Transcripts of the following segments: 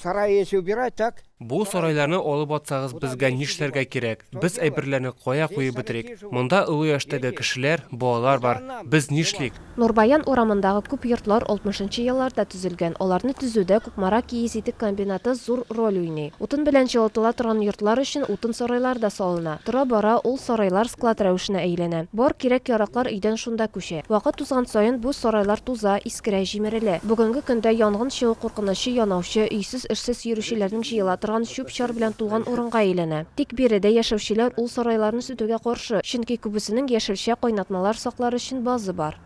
Сарай если убирать, так? Бу сарайларны алып атсагыз безгә нишләргә кирәк? Без әйберләрне кая куеп бетерик? Монда олы яшьтәге кешеләр, балалар бар. Без нишлик? Нурбаян урамындагы күп йортлар алтмышынчы елларда төзелгән. Аларны төзүдә Кукмара киез итек комбинаты зур роль уйный. Утын белән җылытыла торган йортлар өчен утын сарайлар да салына. Тора-бара ул сарайлар склад рәвешенә әйләнә. Бар кирәк-яраклар өйдән шунда күчә. Вакыт узган саен бу сарайлар туза, Кирә җимерелә. Бүгенге көндә янгын чыгу куркынычы янаучы, өйсез-эшсез йөрүчеләрнең җыела торган чүп-чар белән тулган урынга әйләнә. Тик биредә яшәүчеләр ул сарайларны сүтүгә каршы, чөнки күбесенең яшелчә, кайнатмалар саклар өчен базы бар.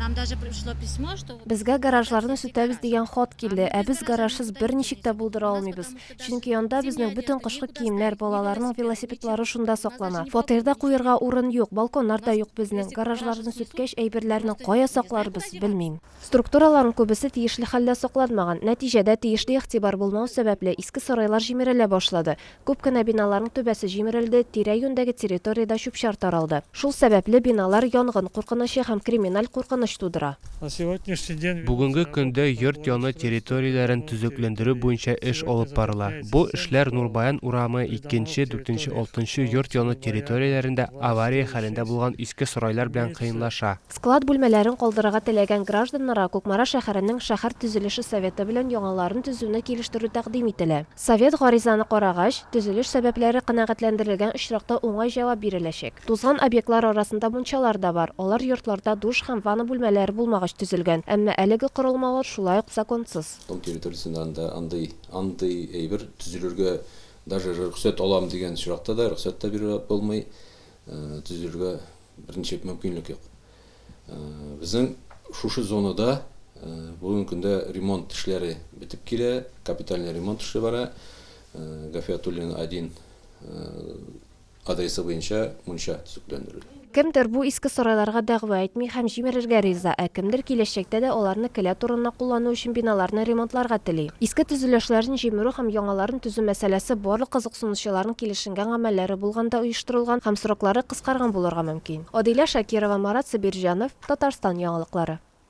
Безгә гаражларны сүтәбез дигән хат килде, ә без гаражсыз берничек тә булдыра алмыйбыз. Чөнки анда безнең бөтен кышкы киемнәр, балаларның велосипедлары шунда саклана. Фатирда куерга урын юк, балконнар да юк безнең. Гаражларны сүткәч, әйберләрне кая сакларбыз, белмим. Структураларның күбесе тиешле хәлдә сакланмаган. Нәтиҗәдә, тиешле игътибар булмау сәбәпле, иске сарайлар җимерелә башлады. Күп кенә биналарның түбәсе җимерелде, тирә-юньдәге территориядә чүп-чар таралды. Шул сәбәпле, биналар янгын куркынычы һәм криминаль куркыныч тудыра. Бүгенге көндә йорт яны территорияләрен төзекләндерү буенча эш алып барыла. Бу эшләр Нурбаян урамы, икенче, дүртенче, алтынчы йорт яны территорияләрендә авария хәлендә булган иске сарайлар белән кыенлаша. Склад бүлмәләрен калдырырга теләгән гражданнарга Кукмара шәһәренең шәһәр төзелеше советы белән яңаларын төзүне килештерү тәкъдим ителә. Совет гаризаны карагач, төзелеш сәбәпләре канәгатьләндерелгән очракта уңай җавап биреләчәк. Тузган объектлар арасында мунчалар да бар, алар йортларда душ һәм ванна бүлмәләре булмагач төзелгән, әмма әлеге корылмалар шулай ук законсыз. Тау территориясендә анда андый андый әйбер төзелергә даже рөхсәт алам дигән очракта да рөхсәт тә бирә булмый, төзелергә берничек мөмкинлек юк. Безнең шушы зонада бүгенге көндә ремонт эшләре бетеп килә, капитальный ремонт эше бара. Гафиятуллина 1 адресы буенча мунча төзекләндерелә. Кемдер бу иске сарайларга дәгъва әйтми һәм җимерергә риза, ә кемдер киләчәктә дә аларны келәт урынына куллану өчен биналарны ремонтларга тели. Иске төзелешләрен җимерү һәм яңаларын төзү мәсьәләсе барлык кызыксынучыларның килешенгән гамәлләре булганда оештырылган һәм сроклары кыскарган булырга мөмкин. Адилә Шакирова, Марат Сабирҗанов, Татарстан яңалыклары.